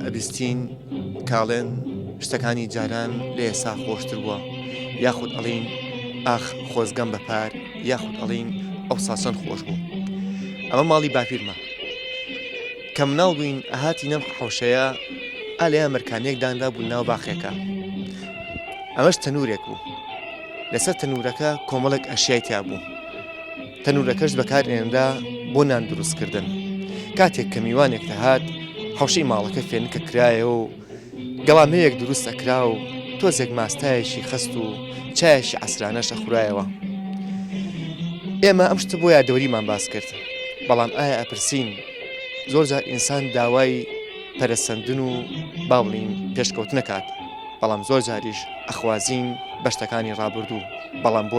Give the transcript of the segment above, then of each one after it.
ئەبیستین کاڵێن شتەکانی جاران لە ئێسا خۆشتر بووە یاخود ئەڵین ئاخ خۆزگەم بەپار یاخود ئەڵین ئەو ساسەن خۆش بوو ئەمە ماڵی باپیرمە کە مناڵ بووین ئەهاتی نەم حوشەیە ئالەیە مەرکانێکدانرا بوو ناو باخێکە ئەمەش تەنورێک بوو لەسەر تەنورەکە کۆمەڵک ئەشیای تیا بوو تەنورەکەش بەکارئێنرا بۆ نان دروستکردن. کاتێک کە میوانێک دەهات، حەوشەی ماڵەکە فێنکە کرایەوە و گەڵامەیەک دروست ئەکرا و تۆزێک ماستایەکی خەست و چایەکی عەسرانەش ئەخورایەوە. ئێمە ئەم شتە بۆ یادەوەریمان باس کرد، بەڵام ئایا ئەپرسین زۆرجار ئینسان داوای پەرەسەندن و با بڵێین پێشکەوتن ئەکات، بەڵام زۆر جاریش ئەخوازین بە شتەکانی ڕابردوو، بەڵام بۆ؟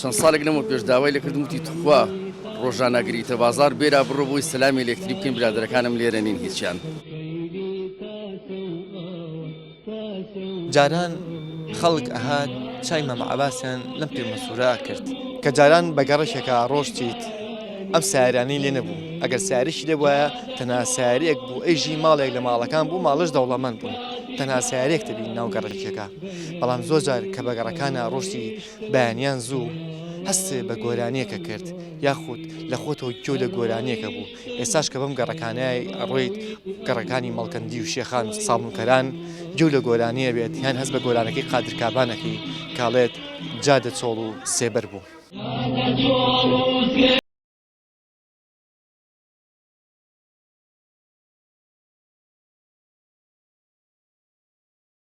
چەند ساڵێک لەمەو پێش داوای لەکردم وتی توخوا ڕۆژان ناگریتە بازار بێرا بڕۆ بۆی سەلامی لەکتری بکەین برادەرەکانم لێرە نین هیچیان. جاران خەڵک ئەهات چای مام عەباسیان لەم پیر مەسورە ئەکرد. کە جاران بە گەڕەکێکا ئەڕۆشتیت ئەم سایەرانەی لێ نەبوو، ئەگەر سایەریشی لێ بوایە تەنها سایەرێک بوو ئەیژی ماڵێک لە ماڵەکان بوو ماڵەش دەوڵەمەند بوون تەنها سایەرێک دەبینی ناو گەڕەکێکا. بەڵام زۆر جار کە بە گەڕەکانا ڕۆشتی بەیانیان زوو هەست بە گۆرانیەکە کرد یاخود لە خۆتەوە گوێ لە گۆرانیەکە بوو ئێستاش کە بەم گەڕەکانای ئەڕۆیت گەڕەکانی مەڵکەندی و شێخان و سابونکەران گوێ لە گۆرانیە بێت یان هەست بە گۆرانەکەی قادر کابانەکەی کاڵێت جادە چۆڵ و سێبەر بوو.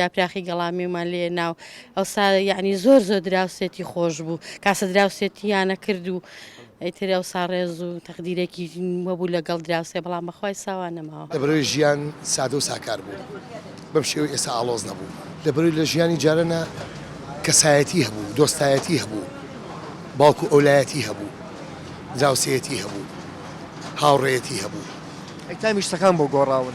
یاپراخی گەڵامێومان لێ ناو ئەوسا یعنی زۆر زۆر دراوسێتی خۆش بوو کاسە دراوسێتیانە کرد و ئەیتر ئەوسا ڕێز و تەقدیرێکی وەبوو لەگەڵ دراوسێ بەڵام بەخوای ساوا نەماوە لەبەرەوەی ژیان سادە و ساکار بوو بەم شێوەی ئێستا ئاڵۆز نەبوو لەبەرەوەی لە ژیانی جارەنا کەسایەتی هەبوو دۆستایەتی هەبوو باوکو ئەولایەتی هەبوو دراوسێتی هەبوو هاوڕێیەتی هەبوو. ئەی تامی شتەکان بۆ گۆڕاون؟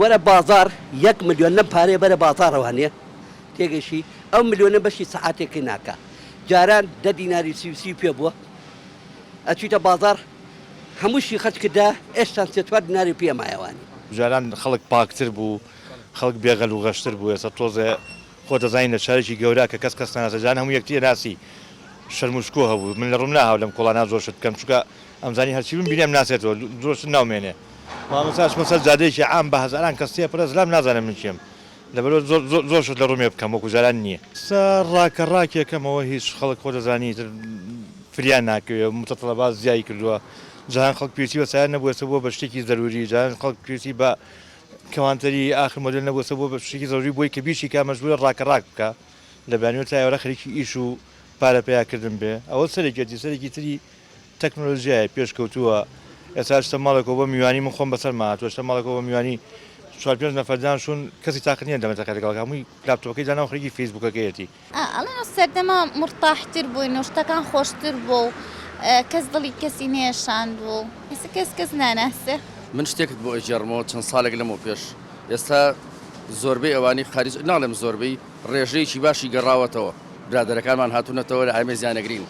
وەرە بازاڕ یەک ملیۆن لەم پارەیە بەرە بازاڕەوە هەنێ تێگەیشتی ئەو ملیۆنە بەشی سەعاتێکی ناکا جاران دە دیناری سی و سی پێ بووە ئەچیتە بازاڕ هەمووشی خەرج کردا ئێشتان سێ چوار دیناری پێ مایەوانی. جاران خەڵک پاکتر بوو خەڵک بێ غەل و غەشتر بوو ئێستا تۆزێ خۆ دەزانی لە شارێکی گەورە کە کەس کەس ناناسێ جاران هەموو یەکتی ئەناسی شەرم و شکۆ هەبوو من لە ڕووم ناهاو لەم کۆڵانا زۆر شت بکەم چونکە ئەمزانی هەرچی بمبینێ ئەمناسێتەوە زۆر شت ناومێنێ. مامۆستا چومە سەر جادەیەکی عام بە هەزاران کەس تێ پرە زلام نازانم من کێم لەبەرئەوە زۆر زۆر زۆر شت لە ڕومێ بکەم وەکو جاران نیە. سە راکە راکێ کە مەوە هیچ خەڵک خۆ دەزانی ئیتر فریان ناکەوێ و متطلبات زیای کردوە جاران خەڵک پێویستی بە سایەن نەبوو ئێستا بوە بە شتێکی زەروری جاران خەڵک پێویستی بە کەوانتەری ئاخر مۆدێل نەبوو ئێستا بوە بە شتێکی زەروری بۆی کە بیشی کا مەجبورە راکە راک بکا لە بەیانیوە تا ئێوارە خەریکی ئیش و پارە پەیا کردن بێ ئەوە سەرێکێتی سەرێکی تری تەکنۆلۆژیای پێشکەوتووە ئێستا شتە ماڵێکەوە بۆ میوانی من خۆم بەسەرما هاتووە شتە ماڵێکەوە بۆ میوانی چوار پێنج نەفەر دانشون کەسی تاقەت نییە دەمەتەقێ لەگەڵ هەمووی لاپتۆپەکەی دانا و خەریکی فەیسبووکەکەیەتی. ئەڵێن ئەو سەردەمە مورتاحتر بووین و شتەکان خۆشتر بوو و کەس دڵی کەسی نەیەشاند و ئێستا کەس کەس ناناسێ. من شتێکت بۆ ئەگێڕمەوە چەند ساڵێک لەمەو پێش ئێستا زۆربەی ئەوانەی خارج ناڵێم زۆربەی ڕێژەیەکی باشی گەڕاوەتەوە برادەرەکانمان هاتوونەتەوە لە ئامێزیان ئەگرین.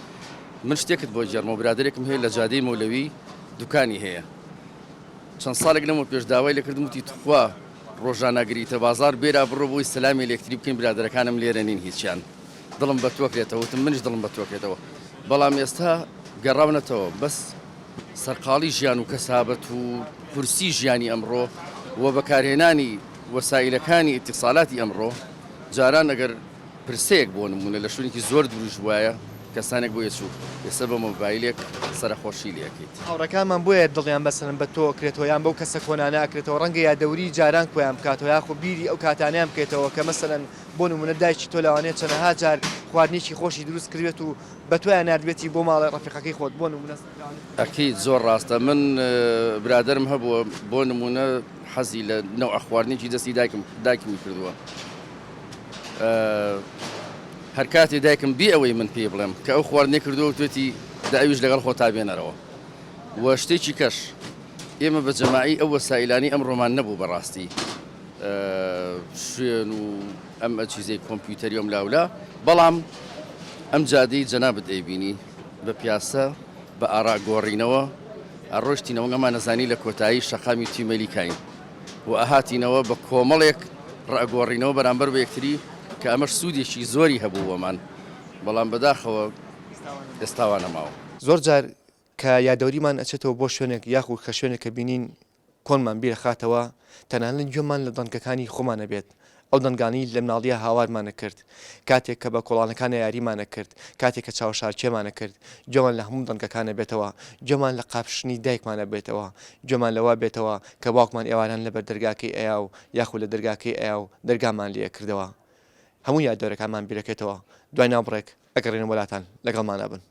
من شتێکت بۆ گێڕمەوە برادەرێکم هەیە لە جادەی مەولەوی دوکانی هەیە چەند ساڵێک لەمەو پێش داوای لەکردم وتی تخوا ڕۆژانە گریتە بازار بێرا بڕۆ بۆی سەلامی لەکتری بکەین برادەرەکانم لێرە نین هیچیان دڵم بە تۆکرێتەوە وتم منش دڵم بە تۆکرێتەوە بەڵام ئێستا گەڕاونەتەوە بەس سەرقاڵی ژیان و کەسابەت و کورسی ژیانی ئەمڕۆ و بەکارهێنانی وەسائلەکانی ئیتیسالاتی ئەمڕۆ جاران ئەگەر پرسەیەک بۆ نموونە لە شوێنێکی زۆر دووریش بوایە کەسانێک بۆ یەچوو یەسەر بە مۆبایلێک سەرەخۆشی لێ ئەکەیت. هاوڕێکانمان بۆیە دڵیان بەسەرن بە تۆ ئەکرێتەوە یان بەو کەسە کۆنانە ئەکرێتەوە ڕەنگە یادەوری جاران کۆیان بکاتەوە یاخۆ بیری ئەو کاتانەیان بکەیتەوە کە مەسەلەن بۆ نموونە دایکی تۆ لەوانەیە چەنەها جار خواردنێکی خۆشی دروست کردبێت و بە تۆیان ناردبێتی بۆ ماڵێ ڕەفیقەکەی خۆت بۆ نموونە. ئەکید زۆر ڕاستە من برادەرم هەبووە بۆ نموونە حەزی لە نەوعە خواردنێکی دەستی دایکم دایکمی کردووە هەر کاتێ دایکم بی ئەوەی من پێی بڵێم کە ئەو خواردنێ کردووە وتێتی دە ئەویش لەگەڵ خۆتا بێنەرەوە و شتێکی کەش ئێمە بە جەماعی ئەو وەسائلانی ئەم ڕۆمان نەبوو بەڕاستی شوێن و ئەم ئەچیزەی کۆمپیوتەریۆم لاولا بەڵام ئەم جادەی جەنابت ئەیبینی بە پیاسە بە ئاراگۆڕینەوە ئەڕۆشتینەوەگەمان نەزانی لە کۆتایی شەقامی تیمەلیکین و ئەهاتینەوە بە کۆمەڵێک ڕئەگۆڕینەوە بەرامبەر بە یەکتری کە ئەمەش سوودێکی زۆری هەبوو بۆمان بەڵام بەداخەوە ئێستا وا نەماوە. زۆر جار کە یادەوریمان ئەچێتەوە بۆ شوێنێک یاخود کە شوێنێک کە بینین کۆنمان بیرەخاتەوە تەنانەت گوێمان لە دەنکەکانی خۆمان ئەبێت ئەو دەنگانەی لە مناڵییە هاوارمان ئەکرد، کاتێک کە بە کۆڵانەکانە یاریمان ئەکرد، کاتێک کە چاوشارکێمان ئەکرد، گوێمان لە هەموو دەنگەکان ئەبێتەوە، گوێمان لە قاپشنی دایکمان ئەبێتەوە، گوێمان لەوە ئەبێتەوە کە باوکمان ئێواران لەبەر دەرگاکەی ئەیا و یاخود لە دەرگاکەی ئەیا و دەرگامان لێ ئەکردەوە. هەموو یادەوەرەکانمان بیرەکەێتەوە. دوای ناوبڕێک ئەگەڕێینەوە لاتان. لەگەڵمانە بن.